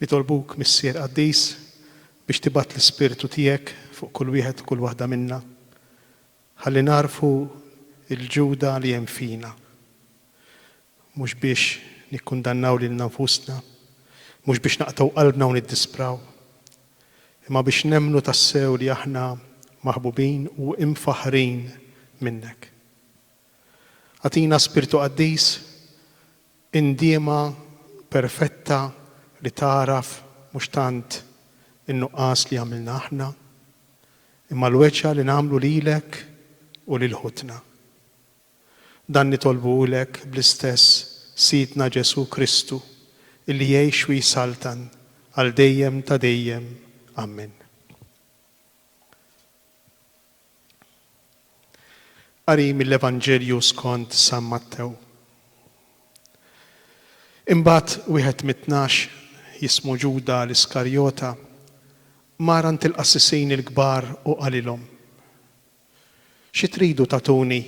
Nitolbuk, Missier qaddis, biex tibgħat l-Ispirtu tiegħek fuq kull wieħed u kull waħda minna, ħalli nagħrfu l-Ġuda li hemm fina, mhux biex nikkundannaw lilna nfusna, mhux biex naqtgħu qalbna u niddispraw, imma biex nemmnu tassew li aħna maħbubin u imfaħħrin minnek. Agħtina Spirtu Qaddis Indiema perfetta li tagħraf mhux tant in-nuqqas li għamilna aħna, imma l-weġgħa li nagħmlu lilek u lil ħutna. Dan nitolbulek bl-istess Sidna Ġesù Kristu, illi jgħix u jsaltan għal dejjem ta' dejjem. Ammen. Qari mill-Evanġelju skont San Mattew. Imbagħad wieħed mit-tnax, jismu Ġuda l-Iskarjota, mar għand il-qassisin il-kbar u qalilhom, Xi tridu tagħtuni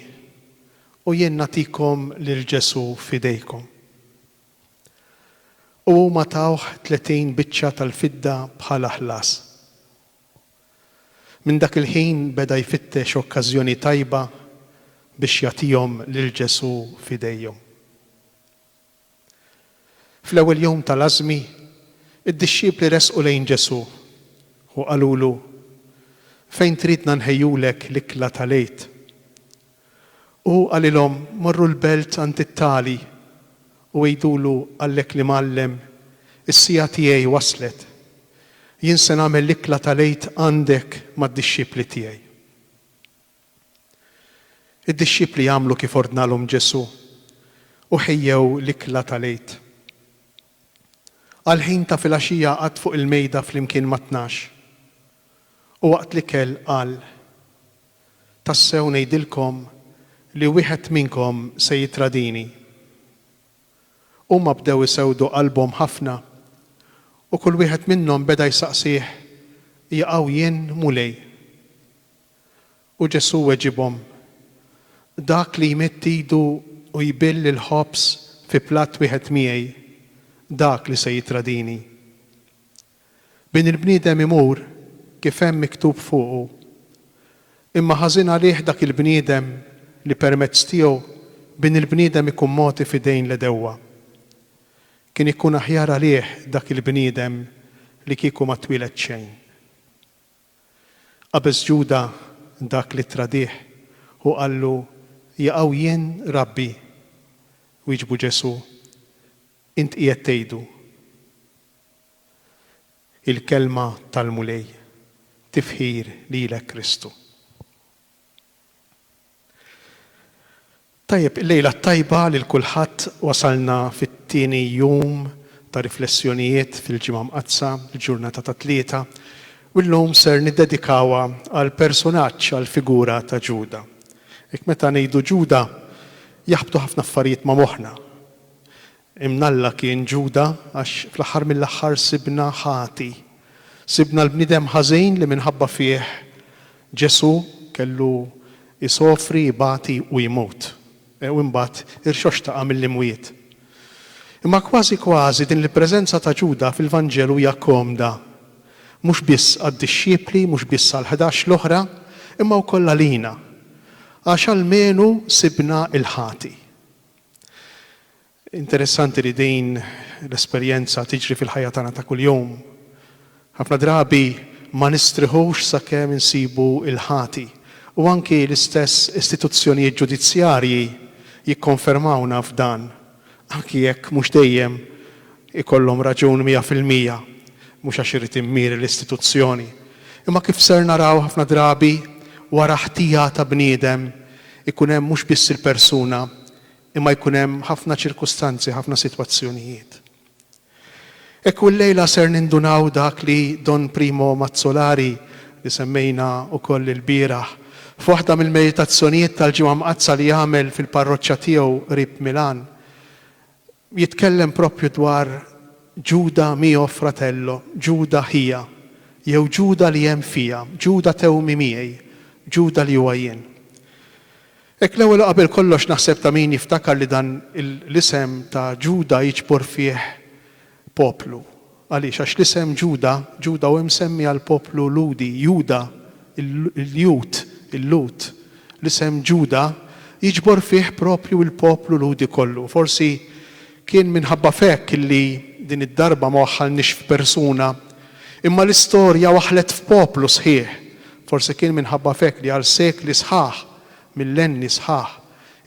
u jien nagħtikom lil Ġesù f'idejkom? U huma tawh tletin biċċa tal-fidda bħala ħlas. Minn dak il-ħin beda jfittex okkażjoni tajba biex jagħtihom lil Ġesù f'idejhom. Fl-ewwel jum tal-Għażmi, id-dixxipli resqu lejn Ġesù u qalulu, Fejn tridna nħejjulek l-ikla tal-Għid? U qalilhom, Morru l-belt għand it-tali, u għidulu, Qalek l-Imgħallem, Is-siegħa tiegħi waslet. Jien se nagħmel l-ikla tal-Għid għandek mad-dixxipli tiegħi. Id-dixxipli għamlu kif ordnalhom Ġesù, u ħejjew l-ikla tal-Għid. Għall-ħin ta' filgħaxija qagħad fuq il-mejda flimkien mat-tnax, u waqt l-ikel qal, Tassew ngħidilkom li wieħed minnkom se jittradini. Huma bdew isewdu qalbhom ħafna, u kull wieħed minnhom beda jsaqsih, Jaqaw jien, Mulej? U Ġesù weġibhom, Dak li jmidd idu u jbill il-ħobż fi platt wieħed miegħi, dak li se jittradini. Bin il-bniedem imur kif hemm miktub fuqu. Imma ħażin għalih dak il-bniedem li permezz tiegħu Bin il-bniedem ikun mogħti f'idejn l-għedewwa. Kien ikun aħjar għalih dak il-bniedem li kieku ma twieled xejn. Qabeż Ġuda dak li ttradih u qallu, Jaqaw jien, Rabbi? Wieġbu Ġesù, Int qiegħed tgħidu, Il-Kelma tal-Mulej, Tifħir lilek Kristu. Tajjeb, il-lejla t-tajba lil kulħadd, wasalna fit-tieni jum ta' riflessjonijiet fil-Ġimgħa Mqaddsa, il-ġurnata tat-Tlieta, u llum ser niddedikawha għall-personaġġ, għall-figura ta' Ġuda. Hekk meta ngħidu Ġuda, jaħbtu ħafna affarijiet ma' moħħna. Imnalla kien Ġuda għax fl-aħħar mill-aħħar sibna ħati. Sibna l-bniedem ħażin li minħabba fih Ġesù kellu jsofri, ibati u jmut, u imbagħad irxoxtaqa mill-imwiet. Imma kważi kważi din il-preżenza ta' Ġuda fil-Vanġelu hija komda, mhux biss għad-dixxipli, mhux biss għall-ħdax l-oħra, imma wkoll għalina, għax almenu sibna l-ħati. Interessanti li din l-esperjenza tiġri fil-ħajja tagħna ta' kuljum. Ħafna drabi ma nistrieħux sakemm insibu l-ħati, u anki l-istess istituzzjonijiet ġudizzjarji jikkonfermawna f'dan, anki jekk mhux dejjem Ikollhom raġun mija fil-mija, mhux għax irid immiri l-istituzzjoni, imma kif ser naraw ħafna drabi wara ħtija ta' bniedem ikun hemm mhux biss il-persuna imma jkun hemm ħafna ċirkustanzi, ħafna sitwazzjonijiet. Hekk u llejla ser nindunaw dak li Don Primo Mazzolari, li semmejna wkoll ilbieraħ, f'waħda mill-meditazzjonijiet tal-Ġimgħa Mqaddsa li għamel fil-parroċċa tiegħu qrib Milan, jitkellem proprju dwar Ġuda mio fratello, Ġuda ħija, jew Ġuda li hemm fija, Ġuda tewmi miegħi, Ġuda li huwa jien. Hekk l-ewwel u qabel kollox naħseb ta' min jiftakar li dan l-isem ta' Ġuda jiġbor fih poplu, Għaliex? Għax l-isem Ġuda, Ġuda hu msemmi għall-poplu Lhudi, Juda, il-Lhud, il-Lhud. L-isem Ġuda jiġbor fih proprju l-poplu Lhudi kollu. Forsi kien minħabba f'hekk li din id-darba ma waħħalniex f'persuna, imma l-istorja waħħlet f'poplu sħiħ. Forsi kien minħabba f'hekk li għal sekli sħaħ, millenni sħaħ,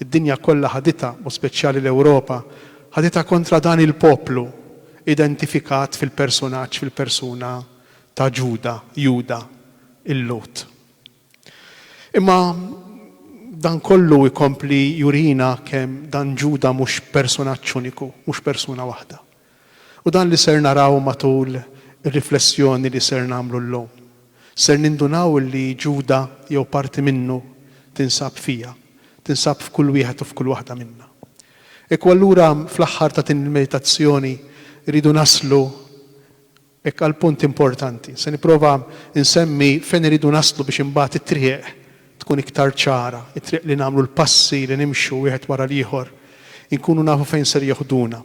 Id-dinja kollha ħaditha, b'mod speċjali l-Ewropa, ħaditha kontra dan il-poplu identifikat fil-persunaġġ, fil-persuna ta' Ġuda, Juda, il-Lhud. Imma dan kollu jkompli jurina kemm dan Ġuda mhux persunaġġ uniku, mhux persuna waħda. U dan li ser naraw matul ir-riflessjoni li ser nagħmlu llum. Ser nindunaw li Ġuda jew parti minnu tinsab fija, tinsab f'kull wieħed u f'kull waħda minna. Ekku allura fl-aħħar ta' din il-meditazzjoni rridu naslu Hekk għal punt importanti. Se nipprova nsemmi fejn irridu naslu biex imbagħad it-triq tkun iktar ċara, it-triq li nagħmlu l-passi li nimxu wieħed wara l-ieħor, inkunu nafu fejn ser jeħduna.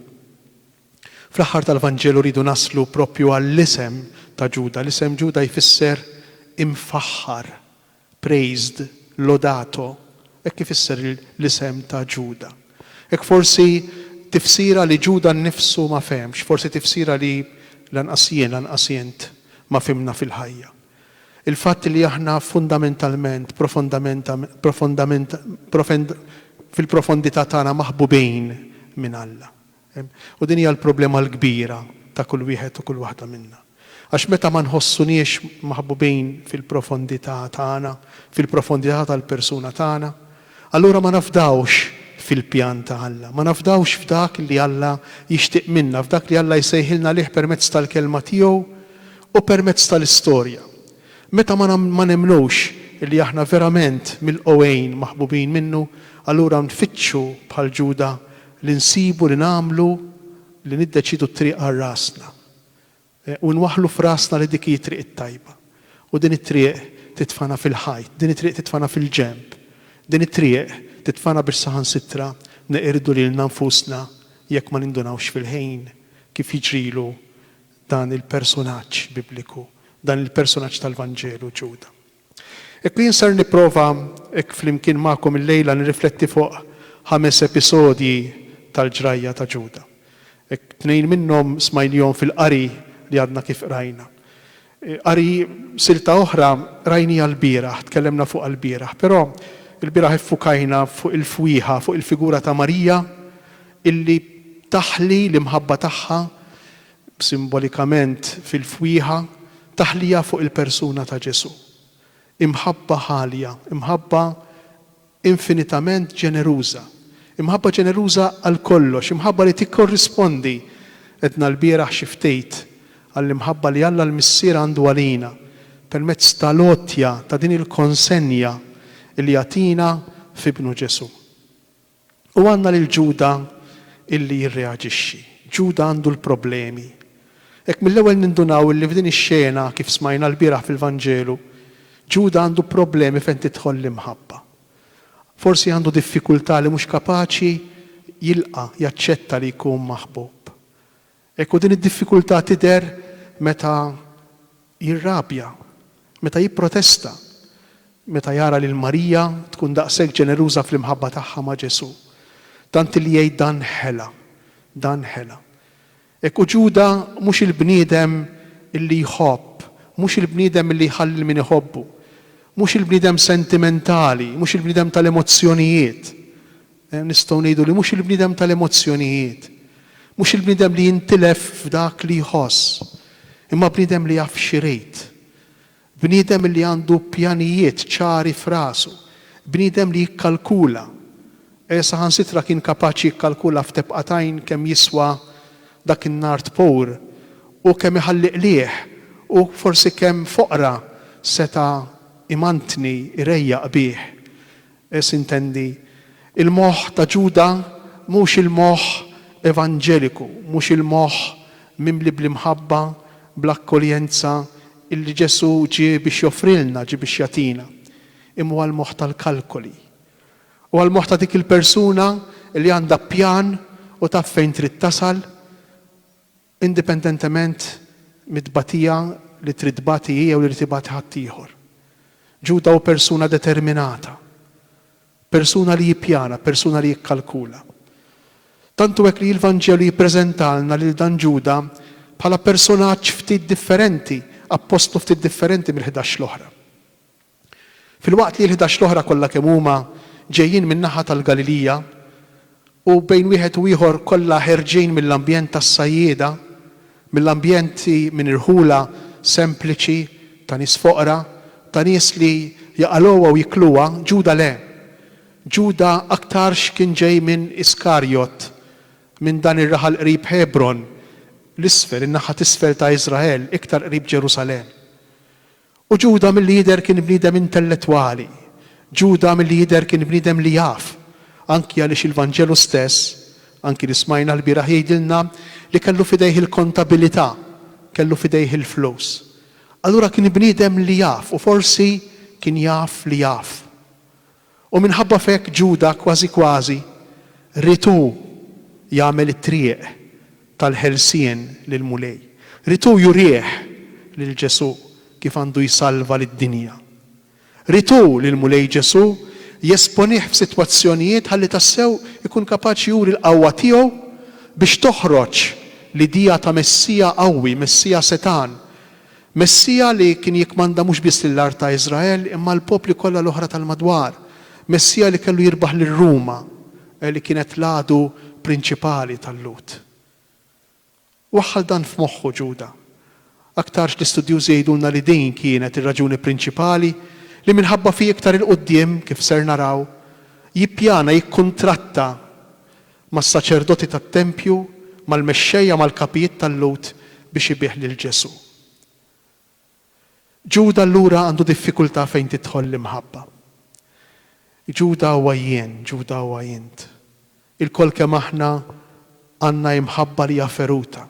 Fl-aħħar tal-Vanġelu rridu naslu proprju għall-isem ta' Ġuda. L-isem Ġuda jfisser imfaħħar, Praised, lodato, hekk ifisser l-isem ta' Ġuda. Hekk forsi tifsira li Ġuda nnifsu ma fehemx, forsi tifsira li lanqas jien, lanqas int ma fhimna fil-ħajja. Il-fatt li aħna fundamentalment, profondament, profondament, profend, fil-profondità tagħna maħbubin minn Alla. U din hija l-problema l-kbira ta' kull wieħed u kull waħda minna. Għax meta ma nħossuniex maħbubin fil-profondità tagħna, fil-profondità tal-persuna tagħna, allura ma nafdawx fil-pjan ta' Alla, ma nafdawx f'dak li Alla jixtieq minna, f'dak li Alla jsejħilna għalih permezz tal-Kelma tiegħu u permezz tal-istorja. Meta ma nemmnux li aħna verament milqugħin maħbubin minnu, allura nfittxu bħal Ġuda Li nsibu, li nagħmlu, li niddeċiedu t-triq għal rasna. U nwaħħlu f'rasna li dik hi t-triq it-tajba. U din it-triq titfagħna fil-ħajt, din it-triq titfagħna fil-ġenb. Din it-triq titfagħna biex saħansitra neqirdu lilna nfusna jekk ma nindunawx fil-ħin, kif jiġrilu dan il-persunaġġ Bibliku, dan il-persunaġġ tal-Vanġelu, Ġuda. Hekk li jien ser nipprova hekk flimkien magħkom illejla nirrifletti fuq ħames episodji tal-ġrajja ta' Ġuda. Hekk tnejn minnhom smajnihom fil-qari li għadna kif qrajna. Qari silta oħra rajniha lbieraħ, tkellemna fuqha lbieraħ, però lbieraħ iffukajna fuq il-fwieħa, fuq il-figura ta' Marija illi taħli l-imħabba tagħha simbolikament fil-fwieħa, taħlija fuq il-persuna ta' Ġesù. Imħabba ħalja, imħabba infinitament ġeneruża, imħabba ġeneruża għal kollox, imħabba li tikkorrispondi, għedna lbieraħ xi ftit, għall-imħabba li Alla l-Missier għandu għalina, permezz tal-għotja ta' din il-konsenja li jagħtina f'Ibnu Ġesù. U għandna lil Ġuda illi jirreaġixxi. Ġuda għandu l-problemi. Hekk mill-ewwel nindunaw illi f'din ix-xena, kif smajna lbieraħ fil-Vanġelu, Ġuda għandu problemi fejn tidħol l-imħabba. Forsi għandu diffikultà li mhux kapaċi jilqa', jaċċetta li jkun maħbub. Hekk hu din id-diffikultà tidher meta jirrabja, meta jipprotesta, meta jara lil Marija tkun daqshekk ġeneruża fl-imħabba tagħha ma' Ġesù, tant li jgħid dan ħela, dan ħela. Hekk hu Ġuda mhux il-bniedem li jħobb, mhux il-bniedem li jħalli lil min iħobbu, mhux il-bniedem sentimentali, mhux il-bniedem tal-emozzjonijiet, Nistgħu ngħidu li mhux il-bniedem tal-emozzjonijiet, mhux il-bniedem li jintilef f'dak li jħoss, imma bniedem li jaf x'irid, bniedem li għandu pjanijiet ċari f'rasu, bniedem li jikkalkula. Saħansitra kien kapaċi jikkalkula f'tebqa t'għajn kemm jiswa dak in-nard pur u kemm iħalli qligħ u forsi kemm f'oqra seta' imantni, irejjaq bih. Eż. Intendi, il-moħħ ta' Ġuda mhux il-moħħ evanġeliku, mhux il-moħħ mimli bl-imħabba, bl-akkoljenza illi Ġesù ġie biex joffrilna, ġie biex jagħtina, imma huwa l-moħħ tal-kalkoli. Huwa l-moħħ ta' dik il-persuna li għandha pjan u taf fejn trid tasal, indipendentement mit-tbatija li trid tbati hi jew li jrid ibati ħaddieħor. Ġuda hu persuna determinata, persuna li jippjana, persuna li jikkalkula. Tant hu hekk li l-Vanġelu jippreżentalna lil dan Ġuda bħala personaġġ ftit differenti, appostlu ftit differenti mill-ħdax l-oħra. Filwaqt li l-ħdax l-oħra kollha kemm huma ġejjin min-naħa tal-Galilija, u bejn wieħed u ieħor kollha ħerġin mill-ambjent tas-sajjieda, mill-ambjenti minn irħula sempliċi ta' nies foqra, ta' nies li jaqalgħuha u jikluha, Ġuda le. Ġuda aktarx kien ġej minn Iskarjot, minn dan ir-raħal qrib Ħebron, l-isfel, in-naħa t'isfel ta' Iżrael, iktar qrib Ġerusalemm. U Ġuda milli jidher kien bniedem intellettwali. Ġuda milli jidher kien bniedem li jaf, anki għaliex il-Vanġelu stess, anki li smajna lbieraħ jgħidilna li kellu f'idejh il-kontabilità, kellu f'idejh il-flus. Allura kien bniedem li jaf u forsi kien jaf li jaf. u minħabba f'hekk Ġuda kważi kważi ried hu jagħmel it-triq tal-ħelsien lill-Mulej. Ried hu jurih lil Ġesù kif għandu jsalva lid-dinja. Ried hu lill-Mulej Ġesù jesponih f'sitwazzjonijiet ħalli tassew ikun kapaċi juri l-qawwa tiegħu biex toħroġ l-idea ta' Messija qawwi, Messija setgħan, Messija li kien jikkmanda mhux biss lill-art ta' Iżrael imma l-popli kollha l-oħra tal-madwar. Messija li kellu jirbaħ lil Ruma, li kienet l-għadu prinċipali tal-Lhud. Waħħal dan f'moħħu Ġuda. Aktarx li studjużi jgħidulna li din kienet ir-raġuni prinċipali li minħabba fih iktar 'il quddiem, kif ser naraw, jippjana jikkuntratta mas-saċerdoti tat-tempju, mal-mexxejja, mal-kapijiet tal-Lhud biex ibigħ lil Ġesù. Ġuda allura għandu diffikultà fejn tidħol l-imħabba. Ġuda huwa jien, Ġuda huwa int. Ilkoll kemm aħna għandna imħabba li hija feruta.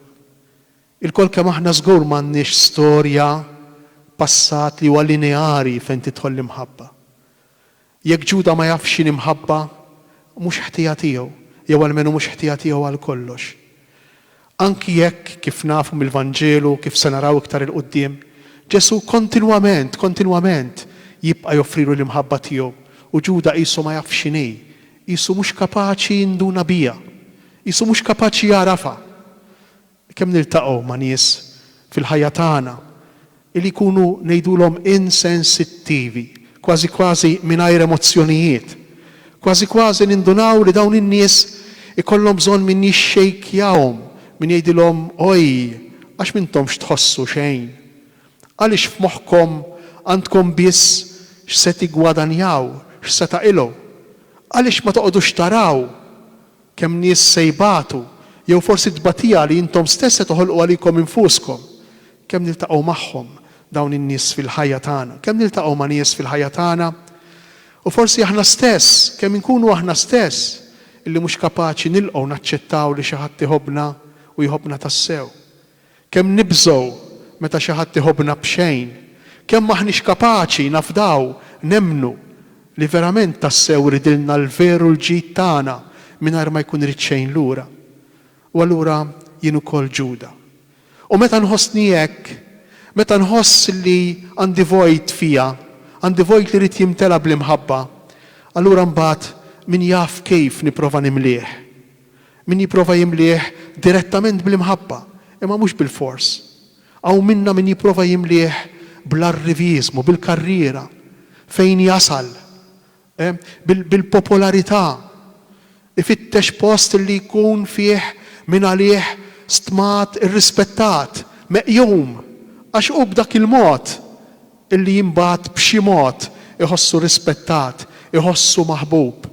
Ilkoll kemm aħna żgur m'għandniex storja, passat li huwa lineari fejn tidħol l-imħabba. Jekk Ġuda ma jafx x'inhi mħabba, mhux ħtija tiegħu, jew almenu mhux ħtija tiegħu għal kollox. Anki jekk, kif nafu mill-Vanġelu u kif se naraw iktar 'il quddiem, Ġesù kontinwament, kontinwament jibqa' joffrilu l-imħabba tiegħu u Ġuda qisu ma jafx x'inhi, qisu mhux kapaċi jinduna biha, qisu mhux kapaċi jagħrafha. Kemm niltaqgħu ma' nies fil-ħajja tagħna li jkunu ngħidulhom insensittivi, kważi kważi mingħajr emozzjonijiet. Kważi kważi nindunaw li dawn in-nies ikollhom bżonn min jixxejkjahom, min jgħidilhom oj, għax m'intomx tħossu xejn. Għaliex f'moħħkom għandkom biss x'se tiggwadanjaw, x'se taqilgħu? Għaliex ma toqgħodux taraw? Kemm nies se jbatu, jew forsi t-tbatija li intom stess se toħolqu għalikom infuskom? Kemm niltaqgħu magħhom dawn in-nies fil-ħajja tagħna? Kemm niltaqgħu ma' nies fil-ħajja tagħna? U forsi aħna stess, kemm inkunu aħna stess illi mhux kapaċi nilqgħu naċċettaw li xi ħadd iħobbna u jħobbna tassew? Kemm nibżgħu meta xi ħadd iħobbna b'xejn! Kemm m'aħniex kapaċi nafdaw, nemmnu, li verament tassew ridilna l-veru l-ġid tagħna mingħajr ma jkun irid xejn lura. U allura jien ukoll Ġuda. U meta nħossni hekk, meta nħoss li għandi vojt fija, għandi vojt li jrid jimtela' bl-imħabba, allura mbagħad min jaf kif nipprova nimlieh? Min jipprova jimlieh direttament bl-imħabba, imma mhux bilfors. Hawn minna min jipprova jimlieh bl-arriviżmu, bil-karriera, fejn jasal, bil-popolarità, ifittex post li jkun fih min għalih stmat, irrispettat, meqjum, għax hu b'dak il-mod li imbagħad b'xi mod iħossu rispettat, iħossu maħbub.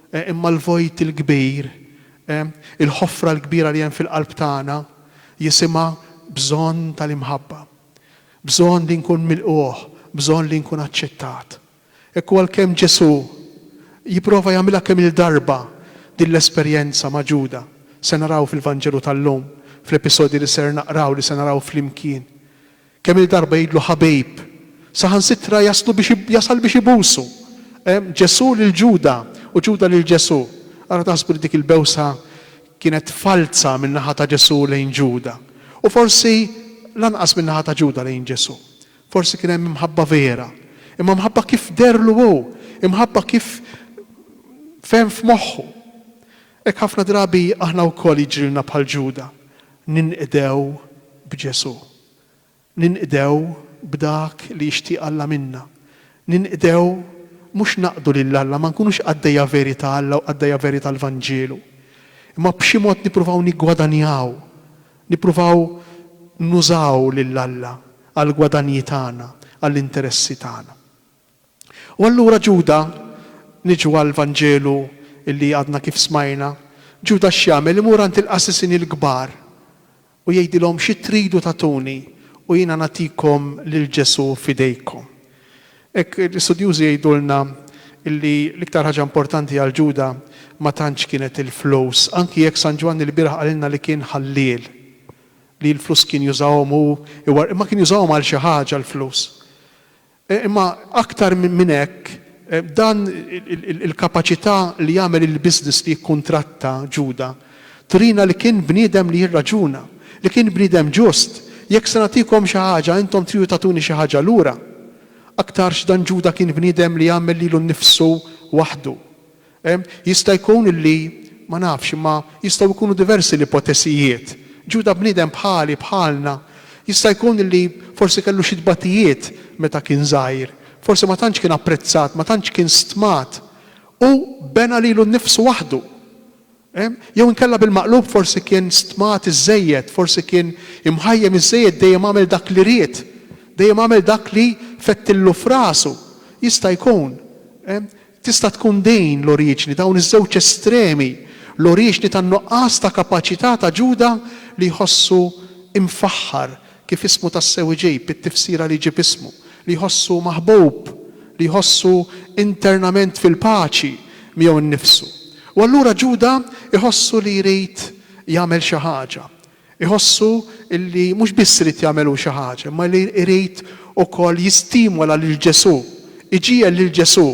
Imma l-vojt il-kbir, il-ħofra l-kbira li hemm fil-qalb tagħna, jisimha bżonn tal-imħabba. Bżonn li nkun milqugħ, bżonn li nkun aċċettat. Hekk hu għalkemm Ġesù jipprova jagħmilha kemm-il darba din l-esperjenza ma' Ġuda. Se naraw fil-Vanġelu tal-lum, fl-episodji li ser naqraw, li se naraw flimkien. Kemm-il darba jgħidlu ħabib, saħansitra jaslu biex jasal biex ibusu. Hemm Ġesù lil Ġuda u Ġuda lil Ġesù. Ara taħsbu li dik il-bewsa kienet falza min-naħa ta' Ġesù lejn Ġuda. U forsi lanqas min-naħa ta' Ġuda lejn Ġesù. Forsi kien hemm imħabba vera. Imma mħabba kif dehrlu hu, imħabba kif fehem f'moħħu. Hekk ħafna drabi aħna wkoll jiġrilna bħal Ġuda. Ninqdew b'Ġesù. Ninqdew b'dak li jixtieq Alla minna. Ninqdew mhux naqdu lil Alla, ma nkunux qaddejja veri ta' Alla u qaddejja veri tal-Vanġelu, imma b'xi mod nippruvaw niggwadanjaw, nippruvaw nużaw lil Alla għall-gwadanji tagħna, għall-interessi tagħna. U allura Ġuda, niġu għall-Vanġelu li għadna kif smajna, Ġuda x'jagħmel? Imur għand il-qassisin il-kbar u jgħidilhom, Xi tridu tagħtuni u jiena nagħtikom lil Ġesù f'idejkom? Hekk l-istudjużi jgħidulna li l-iktar ħaġa importanti għal Ġuda ma tantx kienet il-flus, anki jekk San Ġwanni l-bieraħ qalilna li kien ħalliel, li l-flus kien jużahom hu, imma kien jużahom għal xi ħaġa l-flus. Imma aktar minn hekk, dan il-kapaċità li jagħmel il-business li jikkuntratta Ġuda turina li kien bniedem li jirraġuna, li kien bniedem ġust. Jekk se nagħtikom xi ħaġa, intom tridu tagħtuni xi ħaġa lura. Aktarx dan Ġuda kien bniedem li jagħmel lilu nnifsu waħdu. Jista' jkun li, ma nafx, imma jistgħu jkunu diversi l-ipotesijiet. Ġuda bniedem bħali, bħalna. Jista' jkun li forsi kellu xi tbatijiet meta kien żgħir. Forsi ma tantx kien apprezzat, ma tantx kien stmat. Hu bena lilu nnifsu waħdu. Jew inkella bil-maqlub forsi kien stmat iżżejjed, forsi kien imħajjem iżżejjed dejjem għamel dak li ried, dejjem għamel dak li fettillu f'rasu. Jista' jkun. Tista' tkun din l-oriġni, dawn iż-żewġ estremi, l-oriġni tan-nuqqas ta' kapaċità ta' Ġuda li jħossu mfaħħar, kif ismu tassew iġib, it-tifsira li jġib ismu, li jħossu maħbub, li jħossu internament fil-paċi miegħu nnifsu. U allura Ġuda jħossu li jrid jagħmel xi ħaġa. Iħossu li mhux biss irid jagħmel hu xi ħaġa, imma li jrid ukoll jistimola lil Ġesù, iġiegħel lil Ġesù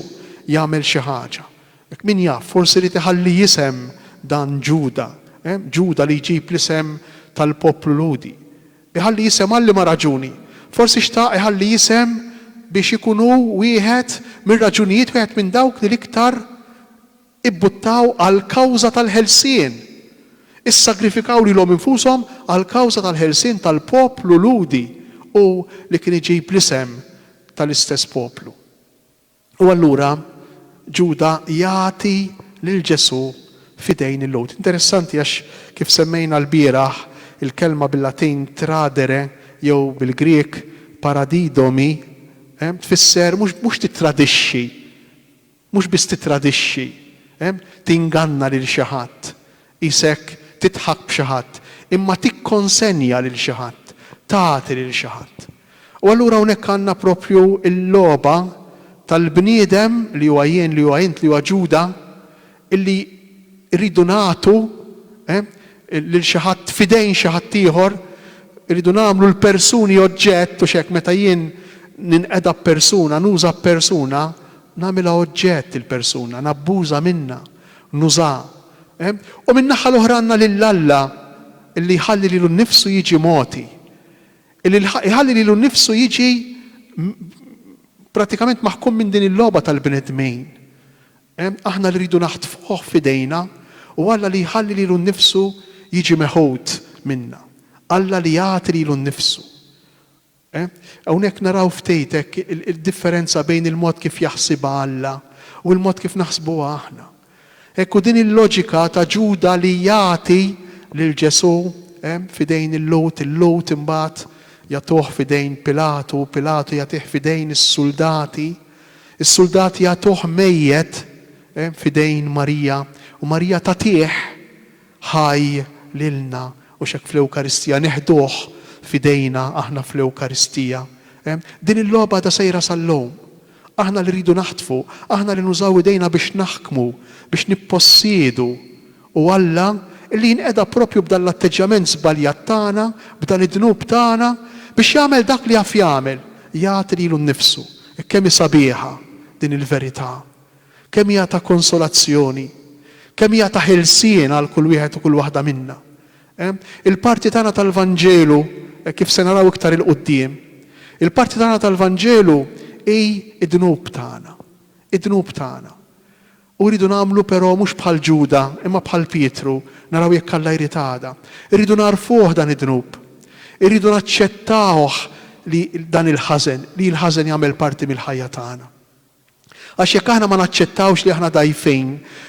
jagħmel xi ħaġa. Min jaf, forsi ried iħalli isem dan Ġuda, Ġuda li jġib l-isem tal-poplu Lhudi. Iħalli isem għal liema raġuni? Forsi xtaq iħalli isem biex ikun hu wieħed mir-raġunijiet, wieħed minn dawk li l-iktar, Ibbuttaw għall-kawża tal-ħelsien! Issagrifikaw lilhom infushom għall-kawża tal-ħelsien tal-poplu Lhudi u li kien iġib l-isem tal-istess poplu. U allura Ġuda jagħti lil Ġesù f'idejn il-Lhud. Interessanti għax kif semmejna lbieraħ, il-kelma bil-Latin tradere jew bil-Grieg paradidomi tfisser mhux titradixxi Mhux biss tittradixxi, tinganna lil xi ħadd, qisek tidħak b'xi ħadd, imma tikkonsenja lil xi ħadd, tagħti lil xi ħadd. U allura hawnhekk għandna proprju l-logħba tal-bniedem li huwa jien, li huwa int, li huwa Ġuda, illi rridu nagħtu lil xi ħadd f'idejn xi ħadd ieħor, irridu nagħmlu l-persuni oġġett u x'hekk meta jien ninqeda b'persuna, nuża b'persuna, nagħmilha oġġett il-persuna, nabbuża minnha, nużaha. U min-naħa l-oħra għandna lil Alla li jħalli lilu nnifsu jiġi mogħti, li jħalli lilu nnifsu jiġi prattikament maħkum minn din il-logħba tal-bnedmin. Aħna li rridu naħtfuh f'idejna u Alla li jħalli lilu nnifsu jiġi meħud minna. Alla li jagħti lilu nnifsu. E. Hawnhekk naraw ftit hekk id-differenza bejn il-mod kif jaħsibha Alla u l-mod kif naħsbuha aħna. Hekk, u din il-loġika ta' Ġuda li jagħti lil Ġesù f'idejn il-Lhud, il-Lhud imbagħad jagħtuh f'idejn Pilatu u Pilatu jagħtih f'idejn is-suldati, is-suldati jagħtuh mejjet f'idejn Marija u Marija tagħtih Ħaj lilna, u x'hekk fl-Ewkaristija neħduh f'idejna aħna fl-Ewkaristija. Din il-logħba għadha sejra sal-lum. Aħna li rridu naħtfu, aħna li nużaw idejna biex naħkmu, biex nippossiedu, u Alla li jinqeda proprju b'dan l-atteġġjament żbaljat tagħna, b'dan id-dnub tagħna, biex jagħmel dak li jaf jagħmel, jagħti lilu nnifsu. Kemm hi sabiħa din il-verità! Kemm hija ta' konsolazzjoni! Kemm hija ta' ħelsien għal kull wieħed u kull waħda minna! Il-parti tagħna tal-Vanġelu, hekk kif se naraw iktar 'il quddiem, il-parti tagħna tal-Vanġelu hi d-dnub tagħna. Id-dnub tagħna. U rridu nagħmlu però mhux bħal Ġuda, imma bħal Pietru, naraw jekk Alla jrid għada. Irridu nagħrfuh dan id-dnub. Irridu naċċettawh li dan il-ħażen, li l-ħażen jagħmel parti mill-ħajja tagħna. Għax jekk aħna ma naċċettawx li aħna dgħajfin,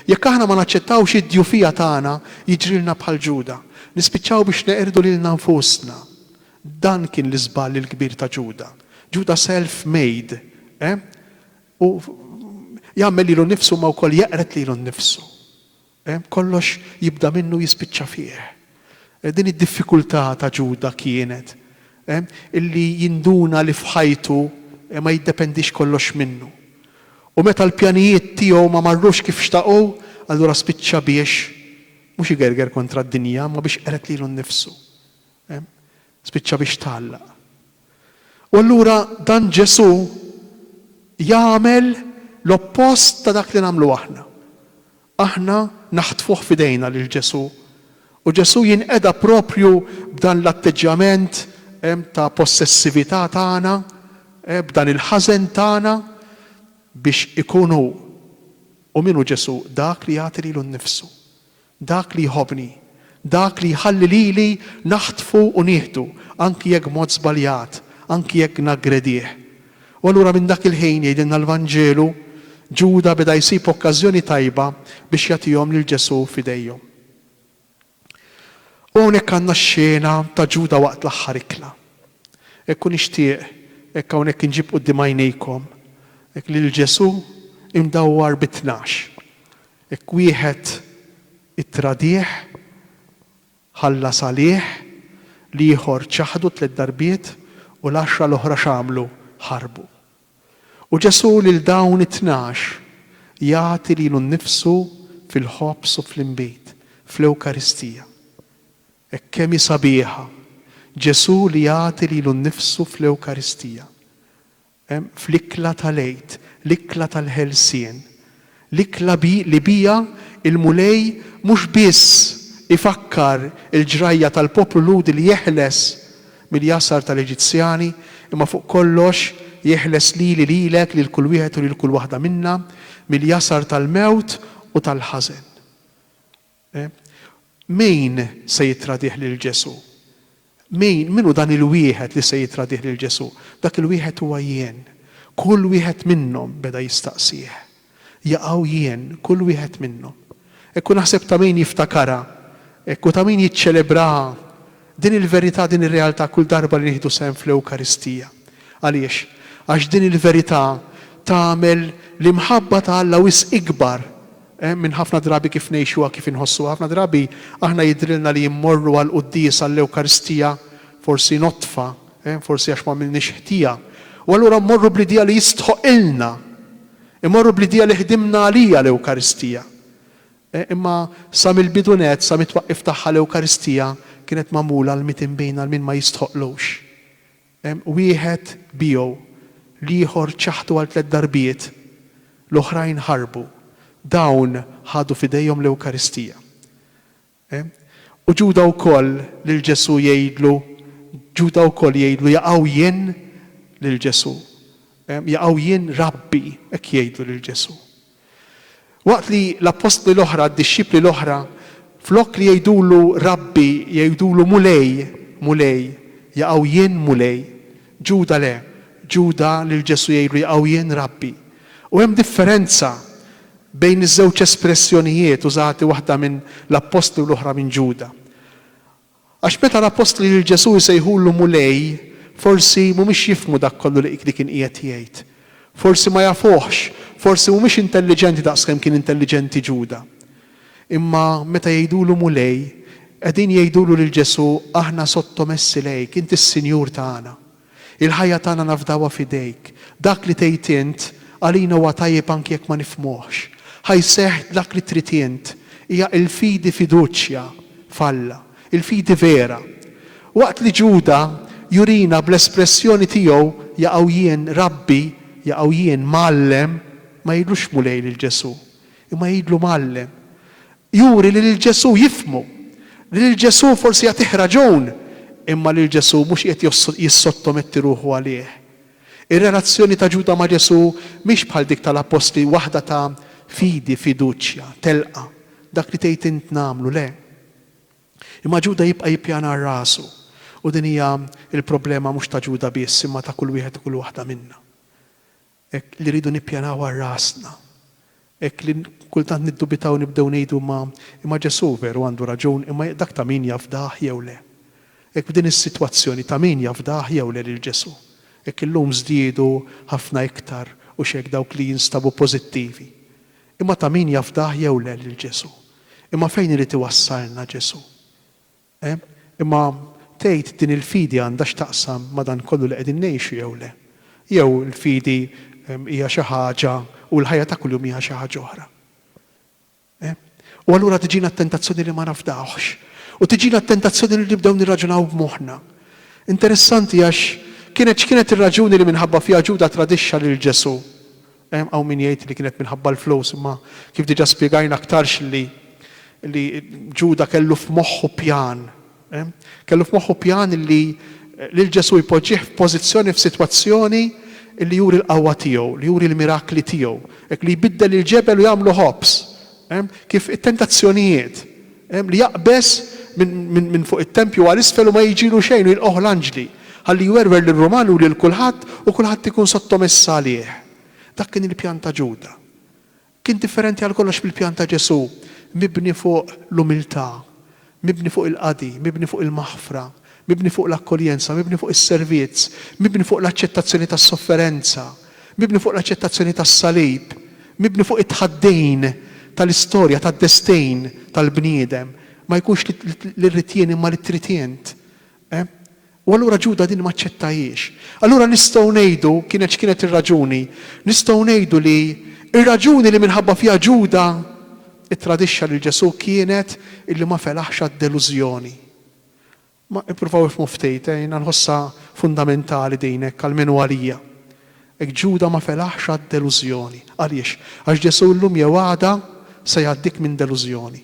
jekk aħna ma naċċettawx id-djufija tagħna, jiġrilna bħal Ġuda. Nispiċċaw biex neqirdu lilna nfusna. Dan kien l-iżball il-kbir ta' Ġuda. Ġuda self made, eh? U jagħmel lilu nnifsu imma wkoll jeqred lilu nnifsu. Kollox jibda minnu jispiċċa fih. Din id-diffikultà ta' Ġuda kienet illi jinduna li f'ħajtu ma jiddependix kollox minnu. U meta l-pjanijiet tiegħu ma marrux kif xtaqu, allura spiċċa biex mhux igerger kontra d-dinja imma biex qered lilu nnifsu. Spiċċa biex tgħallaq. U allura dan Ġesù jagħmel l-oppost ta' dak li nagħmlu aħna. Aħna naħtfuh f'idejna lil Ġesù, u Ġesù jinqeda proprju b'dan l-atteġġjament ta' possessività tagħna, b'dan il-ħażen tagħna, biex ikun hu, u min hu Ġesù, dak li jagħti lilu nnifsu. Dak li jħobbni, dak li jħalli lili naħtfu u nieħdu, anki jekk b'mod żbaljat, anki jekk naggredih. U allura minn dak il-ħin, jgħidilna l-Vanġelu, Ġuda beda jsib okkażjoni tajba biex jagħtihom lil Ġesù f'idejhom. U hawnhekk għandna x-xena ta' Ġuda waqt l-aħħar ikla. Hekk u nixtieq, hekk hawnhekk inġib quddiem għajnejkom, hekk lil Ġesù imdawwar bi tnax. Hekk wieħed ittradih, ħallas għalih, l-ieħor ċaħdu tliet darbiet u l-għaxra l-oħra x'għamlu? Ħarbu. U Ġesù lil dawn it-tnax jagħti lilu nnifsu fil-ħobż u fl-inbid, fl-Ewkaristija. Hekk kemm hi sabiħa, Ġesù li jagħti lilu nnifsu fl-Ewkaristija. Hemm fl-ikla tal-Għid, l-ikla tal-ħelsien, l-ikla li biha l-Mulej mhux biss ifakkar il-ġrajja tal-poplu Lhudi li jeħles mill-jasar tal-Eġizzjani, imma fuq kollox jeħles lili, lilek, lil kull wieħed u lil kull waħda minna mill-jasar tal-mewt u tal-ħażen. Min se jittradih lil Ġesù? Min, min hu dan il-wieħed li se jittradih lil Ġesù? Dak il-wieħed huwa jien. Kull wieħed minnhom, beda jistaqsih. Jaqaw jien, kull wieħed minnhom. Hekk hu naħseb ta' min jiftakarha, hekk hu ta' min jiċċelebraha din il-verità, din ir-realtà kull darba li nieħdu sehem fl-Ewkaristija. Għaliex? Għax din il-verità tagħmel l-imħabba ta' Alla wisq ikbar Hemm minn ħafna drabi kif ngħixuha, kif inħossuha. Ħafna drabi aħna jidhrilna li mmorru għall-quddies, għall-Ewkaristija, forsi notfa, forsi għax m'għamilniex ħtija. U allura mmorru bl-idea li jistħoqqilna. Immorru bl-idea li ħdimna għaliha l-Ewkaristija. Imma sa mill-bidu nett, sa mit-twaqqif tagħha l-Ewkaristija kienet magħmula għal min tinbin, għal min ma jistħoqqlux. Wieħed biegħu, l-ieħor ċaħħdu għal tliet darbiet, l-oħrajn ħarbu. Dawn ħadu f'idejhom l-Ewkaristija. U Ġuda wkoll lil Ġesù jgħidlu, Ġuda wkoll jgħidlu, Jaqaw jien lil Ġesù. Jaqaw jien, Rabbi, hekk jgħidlu lil Ġesù. Waqt li l-appostli l-oħra, d-dixxipli l-oħra, flok li jgħidulu Rabbi, jgħidulu Mulej, Mulej, jaqgħu Jien Mulej. Ġuda le, Ġuda lil Ġesù jgħidlu jaqgħu Jien Rabbi. U hemm differenza bejn iż-żewġ espressjonijiet użati waħda minn l-appostli u l-oħra minn Ġuda. Għax meta l-appostli lil Ġesù jsejħulu Mulej, forsi mhumiex jifhmu dak kollu li li kien qiegħed jgħid. Forsi ma jafuhx, forsi mhumiex intelliġenti daqskemm kien intelliġenti Ġuda. Imma meta jgħidulu Mulej, qegħdin jgħidulu lil Ġesù, Aħna sottomessi lejk, int is-Sinjur tagħna. Il-ħajja tagħna nafdawha f'idejk. Dak li tgħid int għalina huwa tajjeb anki jekk ma nifhmuhx. Ħa jseħħ dak li trid int. Hija l-fidi fiduċja f'Alla. Il-fidi vera. Waqt li Ġuda jurina bl-espressjoni tiegħu jaqaw jien, Rabbi, jaqaw jien, Mgħallem, ma jgħidlux Mulej lil Ġesù. Imma jgħidlu Mgħallem. Juri li lil Ġesù jifhmu. Li lil Ġesù forsi jagħtih raġun, imma lil Ġesù mhux qiegħed jissottometti ruħu għalih. Ir-relazzjoni ta' Ġuda ma' Ġesù mhix bħal dik tal-appostli waħda ta' fidi, fiduċja, telqa', dak li tgħid int nagħmlu, le. Imma Ġuda jibqa' jippjana għal rasu. U din hija l-problema mhux ta' Ġuda biss imma ta' kull wieħed u kull waħda minna. Hekk li rridu nippjanaw għal rasna. Hekk li kultant niddubitaw nibdew ngħidu ma, imma Ġesù veru għandu raġun imma jekk dak ta' min jafdah jew le. Hekk f'din is-sitwazzjoni ta' min jafdah jew le lil Ġesù. Hekk illum żdiedu ħafna iktar u x'hekk dawk li jinstabu pożittivi. Imma ta' min jafdah jew le lil Ġesù. Imma fejn irid iwassalna Ġesù? E, imma, tgħid, din il-fidi għandha x'taqsam ma' dan kollu li qegħdin ngħixu jew le? Jew il-fidi hija xi ħaġa u l-ħajja ta' kuljum hija xi ħaġa oħra? E, u allura tiġina t-tentazzjoni li ma nafdawhx. U tiġina t-tentazzjoni li nibdew nirraġunaw b'moħħna. Interessanti għax kienet x'kienet ir-raġuni li minħabba fiha Ġuda tradixxa lil Ġesù? Hawn min jgħid li kienet minħabba l-flus imma kif diġà spjegajna aktarx li li Ġuda kellu f'moħħu pjan. Kellu f'moħħu pjan li lil Ġesù jpoġġih f'pożizzjoni f'sitwazzjoni li juri l-qawwa tiegħu, li juri l-mirakli tiegħu, hekk li jbiddel il-ġebel u jagħmlu ħobż. Hemm kif it-tentazzjonijiet, hemm li jaqbeż minn fuq it-tempju għal isfel u ma jiġilu xejn u jilqgħuh l-anġli, ħalli jwerwer lir-Rumani u lil kulħadd u kulħadd ikun sottomess għalih. Dak kien il-pjan ta' Ġuda. Kien differenti għal kollox mill-pjan ta' Ġesù, mibni fuq l-umiltà, mibni fuq il-qadi, mibni fuq il-maħfra, mibni fuq l-akkoljenza, mibni fuq is-servizz, mibni fuq l-aċċettazzjoni tas-sofferenza, mibni fuq l-aċċettazzjoni tas-salib, mibni fuq it-tħaddin tal-istorja, tad-destejn tal-bniedem, ma jkunx li rrid jien imma li trid int. Eh? U allura Ġuda din ma aċċettahiex. Allura nistgħu ngħidu, kienet x'kienet ir-raġuni? Nistgħu ngħidu li r-raġuni li minħabba fiha Ġuda ttradixxa lil Ġesù kienet illi ma felaħx għad-delużjoni. Ma ippruvaw ifhmu ftit, eh, jiena nħossha fundamentali din hekk għal min hu għalija. Hekk Ġuda ma felaħx għad-delużjoni. Għaliex? Għax Ġesù llum jew għada se jgħaddik minn delużjoni.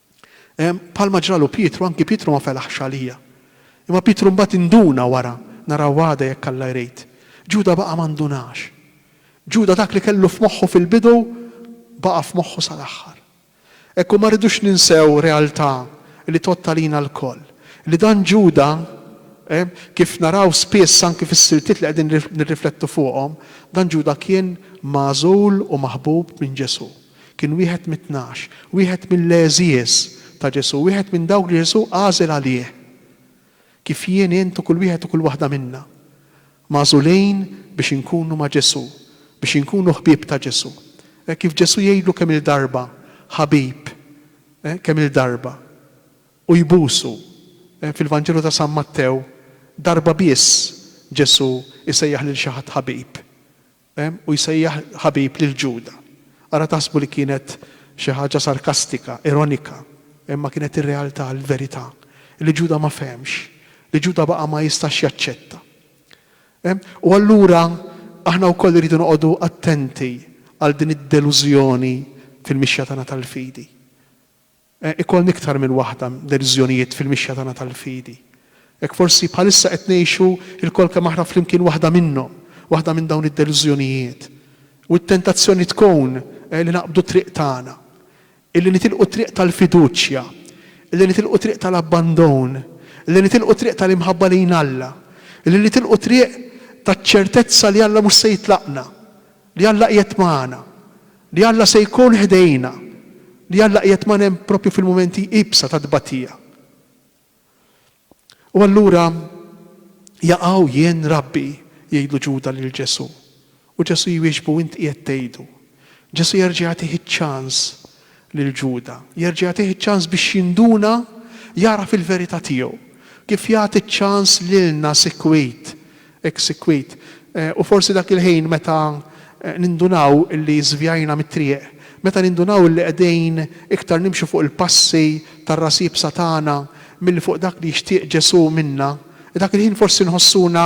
Bħalma ġralu Pietru, anki Pietru ma felaħx għalija. Imma Pietru mbagħad induna wara, naraw għada jekk Alla jrid. Ġuda baqa' ma ndunax. Ġuda dak li kellu f'moħħu fil-bidu baqa' f'moħħu sal-aħħar. Hekk hu ma rridux ninsew realtà li tgħodd għalina lkoll, li dan Ġuda, kif naraw spiss anki fis-siltiet li qegħdin nirriflettu fuqhom, dan Ġuda kien magħżul u maħbub minn Ġesù. Kien wieħed mit-Tnax, wieħed mill-għeżież ta' Ġesù, wieħed minn dawk li Ġesù għażel għalih. Kif jien, int u kull wieħed u kull waħda minna, magħżulin biex inkunu ma' Ġesù, biex inkunu ħbieb ta' Ġesù. Hekk kif Ġesù jgħidlu kemm-il darba, ħabib, kemm-il darba, u jbusu. Fil-Vanġelu ta' San Mattew, darba biss Ġesù jsejjaħ lil xi ħadd ħabib. u jsejjaħ ħabib lil Ġuda. Ara taħsbu li kienet xi ħaġa sarkastika, ironika, imma kienet ir-realtà, il-verità, li Ġuda ma fehemx, li Ġuda baqa' ma jistax jaċċetta. U allura aħna wkoll irridu noqogħdu attenti għal din id-delużjoni fil-mixja tagħna tal-fidi. ikollna iktar minn waħda deċiżjonijiet fil-mixja tagħna tal-fidi. Hekk forsi bħalissa qed ngħixu lkoll kemm aħna flimkien waħda minnhom, waħda minn dawn id-deċiżjonijiet. U t-tentazzjoni tkun li naqbdu t-triq tagħna, li nitilqu t-triq tal-fiduċja, li nitilqu t-triq tal-abbandon, li nitilqu t-triq tal-imħabba lejn Alla, li nitilqu t-triq taċ-ċertezza li Alla mhux se jitlaqna, Li Alla qiegħed magħna. Li Alla se jkun ħdejna. Li Alla qiegħed magħna hemm proprju fil-mumenti iebsa ta' tbatija. U allura jaqaw jien Rabbi, jgħidlu Ġuda lil Ġesu'. U Ġesu' jwieġbu int qiegħed tgħidu. Ġesu' jerġa' jagħtih iċ-ċans lil Ġuda, jerġa' jagħtih ċans biex jinduna, jagħraf il-verità tiegħu, kif jagħti ċans lilna sikwit, hekk sikwit. U forsi dak il-ħin meta nindunaw li żvjajna mit-triq, meta nindunaw li qegħdin iktar nimxu fuq il-passi tar-ras iebsa tagħna milli fuq dak li jixtieq Ġesù minna, dak il-ħin forsi nħossuna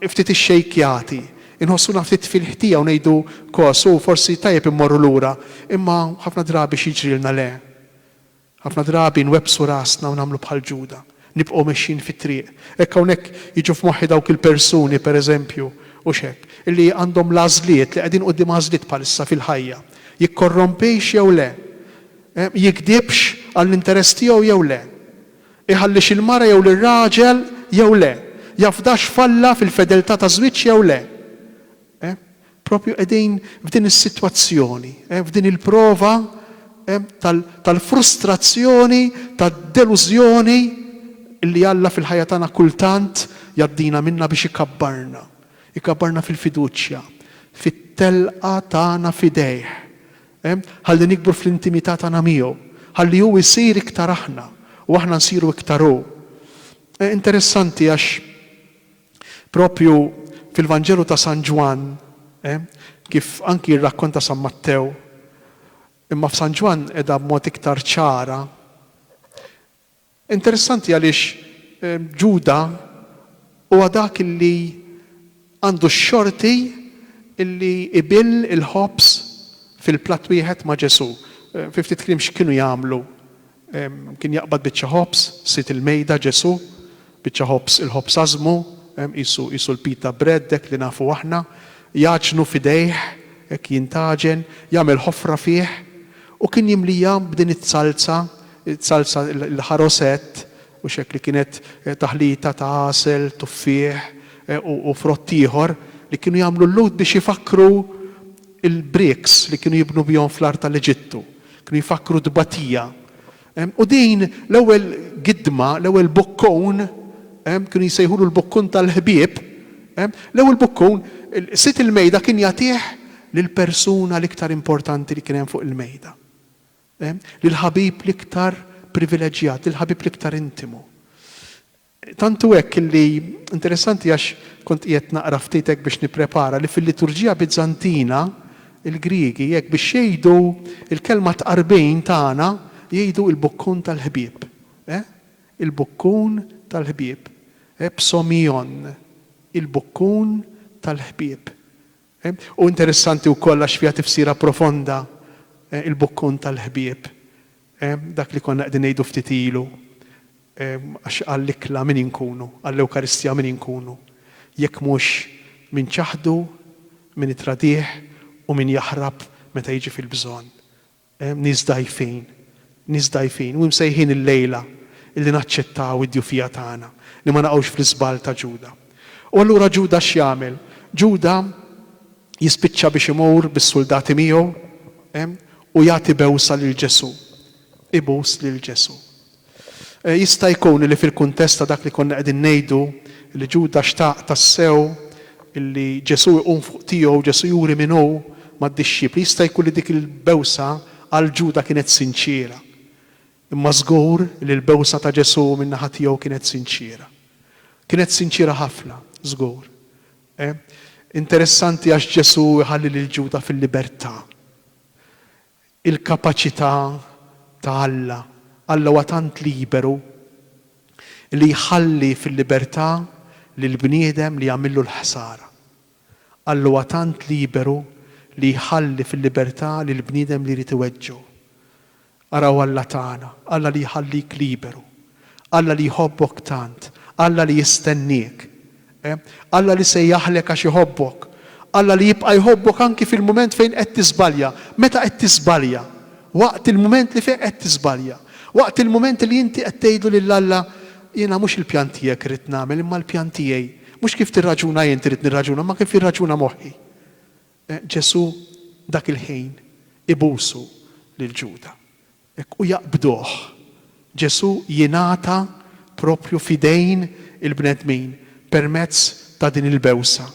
ftit ixxejkjati, Inħossuna ftit fil-ħtija u ngħidu, Kos, hu forsi tajjeb immorru lura, imma ħafna drabi x'jiġrilna? Le. Ħafna drabi nwebbsu rasna u nagħmlu bħal Ġuda. Nibqgħu mexjin fit-triq. Hekk hawnhekk jiġu f'moħħi dawk il-persuni, pereżempju, hux hekk? li għandhom l-għażliet, li qegħdin quddiem għażliet bħalissa fil-ħajja. Jikkorrompix jew le? Jigdibx għall-interess tiegħu jew le? Iħallix il-mara jew lir-raġel jew le? Jafdax f'Alla fil-fedeltà taż-żwieġ jew le? Eh? Proprju qegħdin f'din is-sitwazzjoni, eh, f'din il-prova, eh, tal, tal-frustrazzjoni, tad-delużjoni li Alla fil-ħajja tagħna kultant jgħaddina minnha biex ikabbarna, ikabbarna fil-fiduċja, fit-telqa tagħna f'idejh. ħalli nikbru fl-intimità tagħna miegħu, ħalli hu jsir iktar aħna u aħna nsiru iktar hu. Interessanti għax proprju fil-Vanġelu ta' San Ġwann, kif anki jirrakkonta San Mattew, imma f'San Ġwann qiegħda b'mod iktar ċara, Interessanti għaliex Ġuda huwa dak li għandu x-xorti li jbill il-ħobż fil-platt wieħed ma' Ġesù. Fi ftit kliem x'kienu jagħmlu? Kien jaqbad biċċa ħobż, sid il-mejda Ġesù, biċċa ħobż, il-ħobż għażżmu, qisu, qisu l-pita bread hekk li nafu aħna, jgħaġnu f'idejh, hekk jintgħaġen, jagħmel ħofra fih u kien jimliha b'din iz-zalza Is-salsa, il-ħarosett u x'hekk li kienet taħlita ta' għasel, tuffieħ u frott ieħor li kienu jagħmlu l-Lhud biex ifakkru l-bricks li kienu jibnu bihom fl-art tal-Eġittu. Kienu jfakkru t-tbatija. U din l-ewwel gidma, l-ewwel bukkun, kienu jsejħulu l-bukkun tal-ħbieb, l-ewwel bukkun, sid il-mejda kien jagħtih lill-persuna l-iktar importanti li kien hemm fuq il-mejda. lill-ħabib l-iktar privileġġjat, lill-ħabib l-iktar intimu. Tant hu hekk li, interessanti għax kont qiegħed naqra ftit hekk biex nipprepara, li fil-liturġija Biżantina, il-Griegi hekk biex jgħidu l-kelma tqarbin tagħna jgħidu il-bukkun tal-ħbieb. Il-bukkun tal-ħbieb. Psomion, il-bukkun tal-ħbieb. Hu interessanti wkoll għax fiha tifsira profonda l-bukkun tal-ħbieb, dak li konna qegħdin ngħidu ftit ilu, għax għall-ikla min inkunu, għall-Ewkaristija min inkunu, jekk mhux min ċaħdu, min itradih u min jaħrab meta jiġi fil-bżonn. Hemm nies dgħajfin, nies dgħajfin u imsejħin illejla illi naċċettaw id-djufija tagħna, li ma naqgħux fl-iżball ta' Ġuda. U allura Ġuda x'jagħmel? Ġuda jispiċċa biex imur bis-suldati miegħu u jagħti bewsa lil Ġesù, ibus lil Ġesù. Jista' jkun li fil-kuntest ta' dak li konna qegħdin ngħidu, li Ġuda xtaq tassew li Ġesù jqum fuq tiegħu, Ġesù juri min hu mad-dixxipli, jista' jkun li dik il-bewsa għal Ġuda kienet sinċiera. Imma żgur li l-bewsa ta' Ġesù min-naħa tiegħu kienet sinċiera. Kienet sinċiera ħafna, żgur. Interessanti għax Ġesù jħalli lil Ġuda fil-libertà. il-kapaċità ta' Alla. Alla huwa tant liberu li jħalli fil-libertà lil bniedem li jagħmillu l-ħsara. Alla huwa tant liberu li jħalli fil-libertà lil bniedem li jrid iweġġgħu. Araw Alla tagħna, Alla li jħallik liberu Alla li jħobbok tant, Alla li jistenniek, Alla li se jaħlek għax iħobbok, Alla li jibqa' jħobbok anki fil-mument fejn qed tiżbalja. Meta qed tiżbalja? Waqt il-mument li fih qed tiżbalja. Waqt il-mument li inti qed tgħidlu lil Alla, Jiena mhux il-pjan tiegħek irrid nagħmel imma l-pjan tiegħi. Mhux kif tirraġuna int irrid nirraġuna imma kif jirraġuna moħħi. Ġesù dak il-ħin ibusu lil Ġuda. Hekk u jaqbduh. Ġesù jingħata proprju f'idejn il-bnedmin permezz ta' din il-bewsa,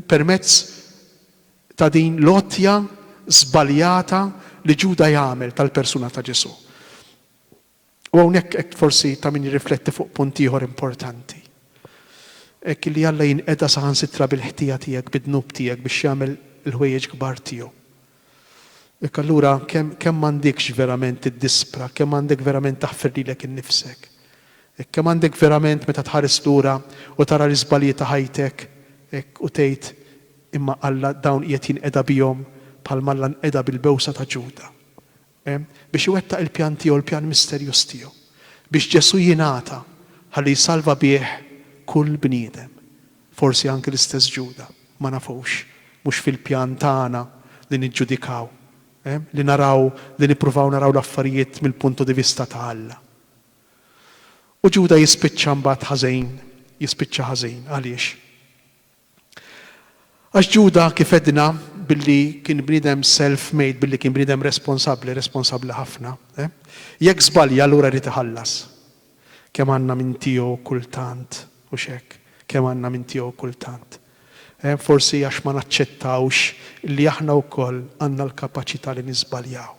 permezz ta' din l-għotja żbaljata li Ġuda jagħmel tal-persuna ta' Ġesù. U hawnhekk qed forsi ta' min jirrifletti fuq punt ieħor importanti. Hekk li Alla jinqeda saħansitra bil-ħtija tiegħek, bid-dnub tiegħek biex jagħmel il-ħwejjeġ kbar tiegħu. Jekk allura kemm kemm m'għandekx verament tiddispra, kemm għandek verament taħfir lilek innifsek. Hekk kemm għandek verament meta tħares lura u tara l-iżbalji ta' ħajtek, hekk u tgħid, Imma Alla dawn qiegħed jinqeda bihom bħalma Alla nqeda bil-bewsa ta' Ġuda. biex iwettaq il-pjan tiegħu, il-pjan misterjuż tiegħu, biex Ġesù jingħata ħalli jsalva bih kull bniedem, forsi anki l-istess Ġuda, ma nafux, mhux fil-pjan tagħna li niġġudikaw, li naraw, li nippruvaw naraw l-affarijiet mill-punto di vista ta' Alla. U Ġuda jispiċċa mbagħad ħażin, jispiċċa ħażin. Għaliex? Għax Ġuda, kif għedna, billi kien bniedem self-made, billi kien bniedem responsabbli, responsabbli ħafna, eh? Jekk żbalja allura jrid iħallas. Kemm għandna minn tiegħu kultant, hux hekk? Kemm għandna minn tiegħu kultant? Eh, forsi għax ma naċċettawx li aħna wkoll għandna l-kapaċità li niżbaljaw.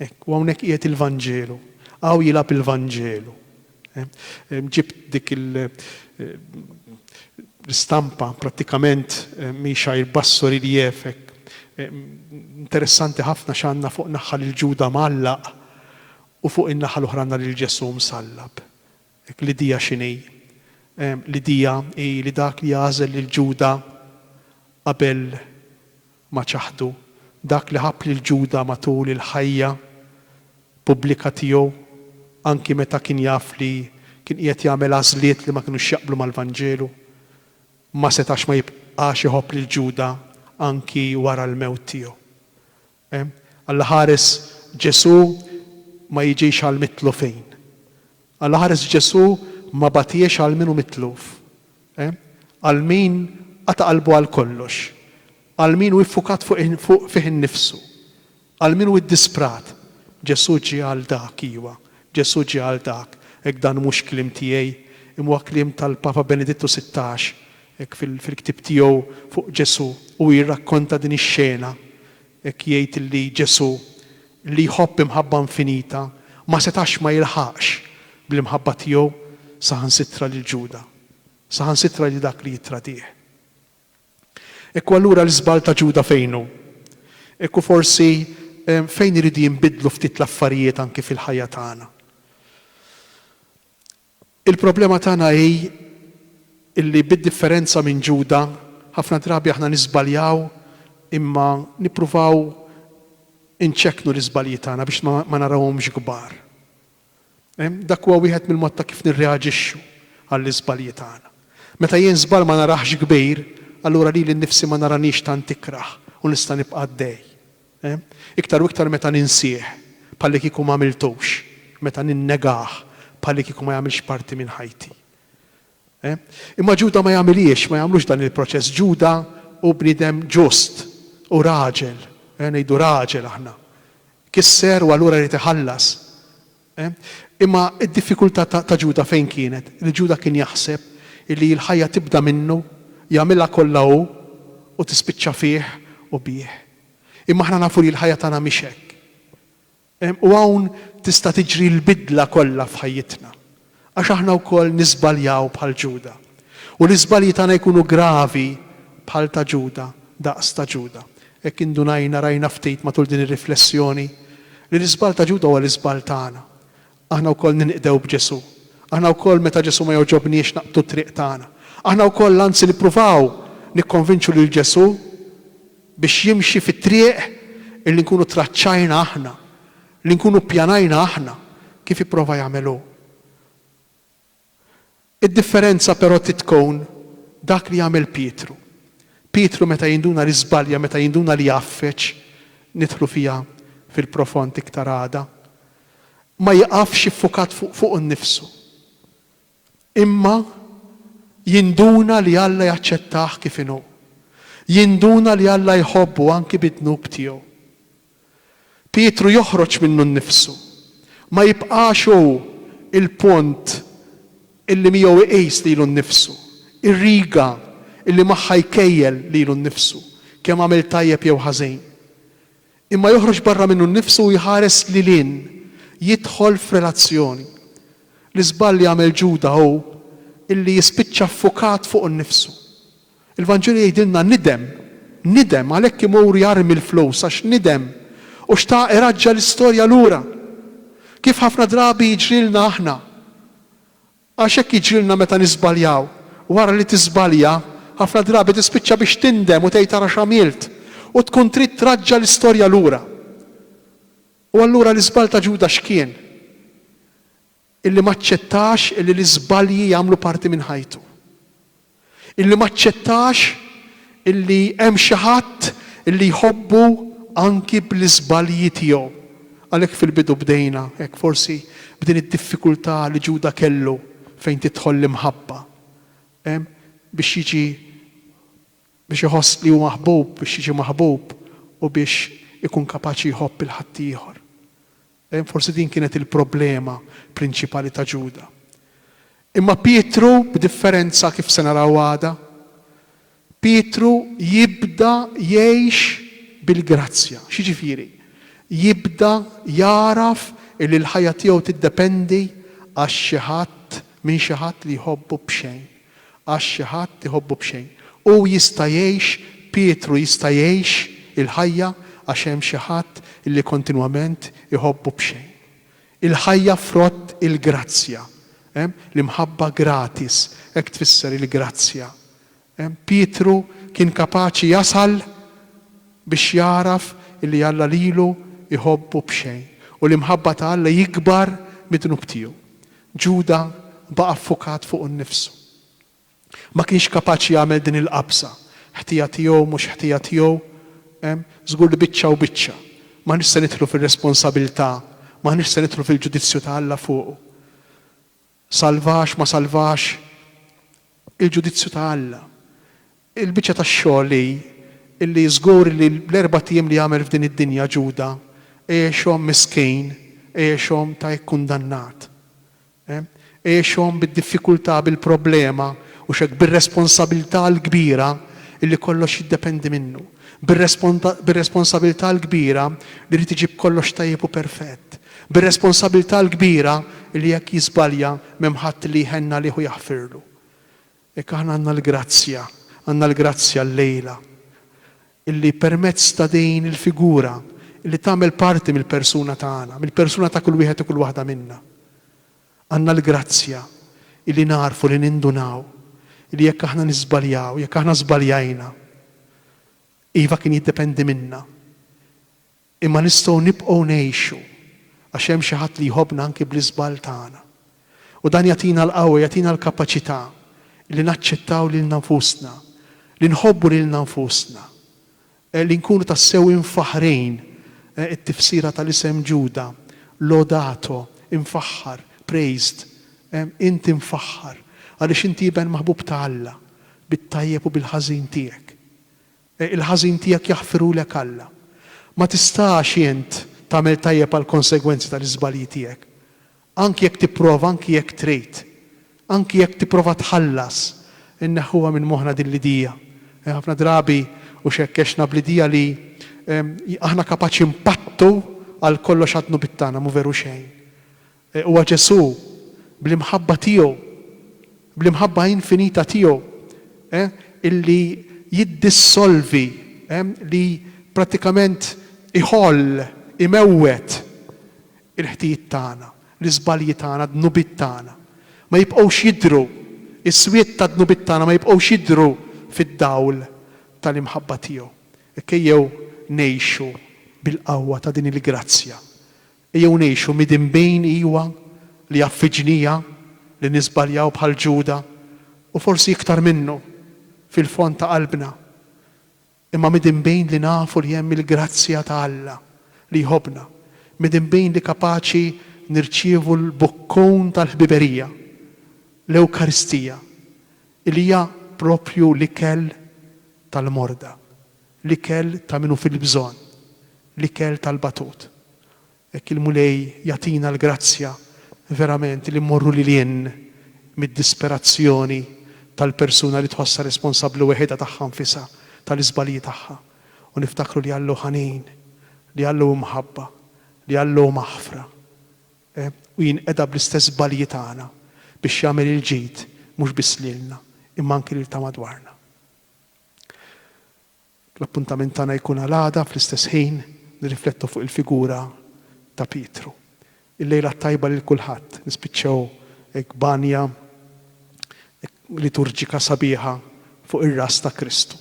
Hekk, u hawnhekk qiegħed il-Vanġelu. Hawn jilgħab il-Vanġelu. Ġibt dik il, l-istampa, prattikament mhix għajr basso riliev hekk. Interessanti ħafna x'għandna fuq naħa lil Ġuda mgħallaq u fuq in-naħa l-oħra għandna lil Ġesù msallab. L-idea x'inhi? L-idea hi li dak li għażel lil Ġuda qabel ma ċaħdu, dak li ħabb lil Ġuda matul il-ħajja pubblika tiegħu, anki meta kien jaf li kien qiegħed jagħmel għażliet li ma kinux jaqblu mal-Vanġelu, ma setax ma jibqax iħobb lil Ġuda anki wara l-mewt tiegħu. Allaħares Ġesù ma jiġix għal mitlufin. Allaħares Ġesù ma batiex għal min hu mitluf. Għal min qata' qalbu għal kollox. Għal min hu ffukat fih innifsu. Għal min hu iddisprat. Ġesù ġie għal dak, iwa, Ġesù ġie għal dak. Hekk dan mhux kliem tiegħi, imma huwa kliem tal-Papa Benedittu Sittax, Hekk fil-ktieb tiegħu fuq Ġesù hu jirrakkonta din ix-xena, hekk jgħid illi Ġesù, li jħobb imħabba infinita, ma setax ma jilħaqx bl-imħabba tiegħu saħansitra lil Ġuda, saħansitra lil dak li jittradih. Hekk hu allura l-iżball ta' Ġuda fejn hu? Hekk hu forsi fejn iridu jinbidlu ftit l-affarijiet anki fil-ħajja tagħna? Il-problema tagħna hi li bid-differenza minn Ġuda, ħafna drabi aħna niżbaljaw imma nippruvaw inċekknu l-iżbalji tagħna biex ma narawhomx kbar. Dak huwa wieħed mill-mod ta' kif nirreaġixxu għall-iżbalji tagħna. Meta jien żball ma narahx kbir, allura lili nnifsi ma naraniex tant ikrah u nista' nibqa' għaddej. Iktar u iktar meta ninsih bħallikieku m'għamiltux, meta ninnegah bħallikieku ma jagħmilx parti minn ħajti. Imma Ġuda ma jagħmilhiex, ma jagħmlux dan il-proċess. Ġuda hu bniedem ġust, hu raġel, ngħidu raġel aħna. Kisser u allura jrid iħallas. Imma d-diffikultà ta' Ġuda fejn kienet? Li Ġuda kien jaħseb li l-ħajja tibda minnu, jagħmilha kollha hu, u tispiċċa fih u bih. Imma aħna nafu li l-ħajja tagħna mhix hekk. U hawn tista' tiġri l-bidla kollha f'ħajjitna. Għax aħna wkoll niżbaljaw bħal Ġuda, u l-iżbalji tagħna jkunu gravi bħal ta' Ġuda, daqs ta' Ġuda. Hekk indunajna, rajna ftit matul din ir-riflessjoni, li l-iżball ta' Ġuda huwa l-iżball tagħna. Aħna wkoll ninqdew b'Ġesù. Aħna wkoll meta Ġesù ma jogħġobniex naqbdu t-triq tagħna. Aħna wkoll anzi nippruvaw nikkonvinċu lil Ġesù biex jimxi fit-triq illi nkunu traċċajna aħna, Li nkunu ppjanajna aħna, kif ipprova jagħmel hu. Id-differenza però trid tkun dak li għamel Pietru. Pietru meta jinduna li żbalja, meta jinduna li għaffeġ, nidħlu fiha fil-profond iktar għada, ma jiqafx iffukat fuq fuqu nnifsu. Imma jinduna li Alla jaċċettah kif inhu. Jinduna li Alla jħobbu anki bid-dnub tiegħu. Pietru joħroġ minnu nnifsu. Ma jibqax hu l-punt illi miegħu iqis lilu nnifsu, ir-riga illi magħha jkejjel lilu nnifsu, kemm għamel tajjeb jew ħażin. Imma joħroġ barra minnu nnifsu u jħares lil hinn, jidħol f'relazzjoni. L-iżball li għamel Ġuda hu illi jispiċċa ffukat fuqu nnifsu. Il-Vanġelu jgħidilna nidem, nidem għalhekk imur jarmi l-flus għax nidem u xtaq iraġġa' l-istorja lura. Kif ħafna drabi jiġrilna aħna. Għax hekk jiġrilna meta niżbaljaw. Wara li tiżbalja, ħafna drabi tispiċċa biex tindem u tgħid ara x'għamilt, u tkun trid traġġa' l-istorja lura. U allura l-iżball ta' Ġuda x'kien? Illi m'aċċettax illi l-iżbalji jagħmlu parti minn ħajtu. illi ma aċċettax illi hemm xi ħadd illi jħobbu anki bl-iżbalji tiegħu. Għalhekk fil-bidu bdejna hekk forsi b'din id-diffikultà li Ġuda kellu fejn tidħol l-imħabba. Hemm biex jiġi biex iħoss li hu maħbub, biex jiġi maħbub u biex ikun kapaċi jħobb 'il ħaddieħor. Forsi din kienet il-problema prinċipali ta' Ġuda. Imma Pietru, b'differenza kif se naraw għada, Pietru jibda jgħix bil-grazzja. X'jiġifieri? Jibda jagħraf illi l-ħajja tiegħu tiddependi għax xi ħadd, minn xi ħadd li jħobbu b'xejn. Għax xi ħadd iħobbu b'xejn. Hu jista' jgħix, Pietru jista' jgħix il-ħajja għax hemm xi ħadd li kontinwament iħobbu b'xejn. Il-ħajja frott il-grazzja. L-imħabba gratis, hekk tfisser il-grazzja. Pietru kien kapaċi jasal biex jagħraf li Alla lilu jħobbu b'xejn u l-imħabba ta' Alla jikbar mid-dnub tiegħu. Ġuda baqa' ffukat fuqu nnifsu. Ma kienx kapaċi jagħmel din il-qabża, ħtija tiegħu, mhux ħtija tiegħu. Hemm? Żgur li biċċa u biċċa. M'aħniex se nidħlu fir-responsabilità, m'aħniex se nidħlu fil-ġudizzju ta' Alla fuqu. Salvax, ma salvax, il-ġudizzju ta' Alla. Il-biċċa tax-xogħol hi illi żgur li l-erbat ijiem li għamel f'din id-dinja Ġuda għexhom miskin, għexhom ta' ikkundannat. Għexhom bid-diffikultà, bil-problema, u x'hekk bir-responsabilità l-kbira illi kollox jiddependi minnu. Bir-responsabilità l-kbira li jrid iġib kollox tajjeb u perfett. Bir-responsabilità l-kbira illi jekk jiżbalja m'hemm ħadd li jħenn għalih u jaħfirlu. Hekk aħna għandna l-grazzja, għandna l-grazzja llejla, illi permezz ta' din il-figura, illi tagħmel parti mill-persuna tagħna, mill-persuna ta' kull wieħed u kull waħda minna. Għandna l-grazzja illi nagħrfu li nindunaw illi jekk aħna niżbaljaw, jekk aħna żbaljajna, iva kien jiddependi minna, Imma nistgħu nibqgħu ngħixu għax hemm xi Ħadd li jħobbna anki bl-iżball tagħna. U dan jagħtina l-qawwa, jagħtina l-kapaċità li naċċettaw lilna nfusna, li nħobbu lilna nfusna, li nkunu tassew imfaħħrin, it-tifsira tal-isem Ġuda, Lodato, imfaħħar, praised, int imfaħħar, għaliex inti iben maħbub ta' Alla, bit-tajjeb u bil-ħażin tiegħek. Il-ħażin tiegħek jaħfirulek Alla. Ma tistax int tagħmel tajjeb għall-konsegwenzi tal-iżbalji tiegħek. Anki jekk tipprova, anki jekk trid, anki jekk tipprova tħallas, inneħħuha minn moħħna din l-idea. Ħafna drabi u xekkexna bl-idea li aħna kapaċi npattu għal kollox għad-dnubiet tagħna, mhu veru xejn. Huwa Ġesù, bl-imħabba tiegħu, bl-imħabba infinita tiegħu, illi jiddissolvi, li prattikament iħoll, imewwet il-ħtijiet tagħna, l-iżbalji tagħna, d-dnubiet tagħna. Ma jibqgħux jidhru, is-swied tad-dnubiet tagħna ma jibqgħux jidhru fid-dawl tal-imħabba tiegħu. Ejjew ngħixu bil-qawwa ta' din il-grazzja Ejjew ngħixu midinbin, iwa, li jaf fi ġnija li niżbaljaw bħal Ġuda, u forsi iktar minnu, fil-fond ta' qalbna, imma midinbin li nafu li hemm il-grazzja ta' Alla li jħobbna, midinbin li kapaċi nirċievu l-bokkun tal-ħbiberija, l-Ewkaristija, li hija proprju l-ikel tal-morda, L-ikel ta' min hu fil-bżonn, l-ikel tal-batut. Hekk il-Mulej jagħtina l-grazzja verament li mmorru lil hinn mid-disperazzjoni tal-persuna li tħossha responsabbli weħidha tagħha nfisha, tal-iżbalji tagħha, u niftakru li Alla hu ħanin, li Alla hu mħabba, li Alla hu maħfra, u jinqeda bl-istess żbalji tagħna biex jagħmel il-ġid mhux biss lilna, imma anki lil ta' madwarna. L-appuntament tagħna jkun għal għada fl-istess ħin nirriflettu fuq il-figura ta' Pietru. Il-lejla t-tajba lil kulħadd, nispiċċaw hekk b'għanja liturġika sabiħa fuq ir-ras ta' Kristu.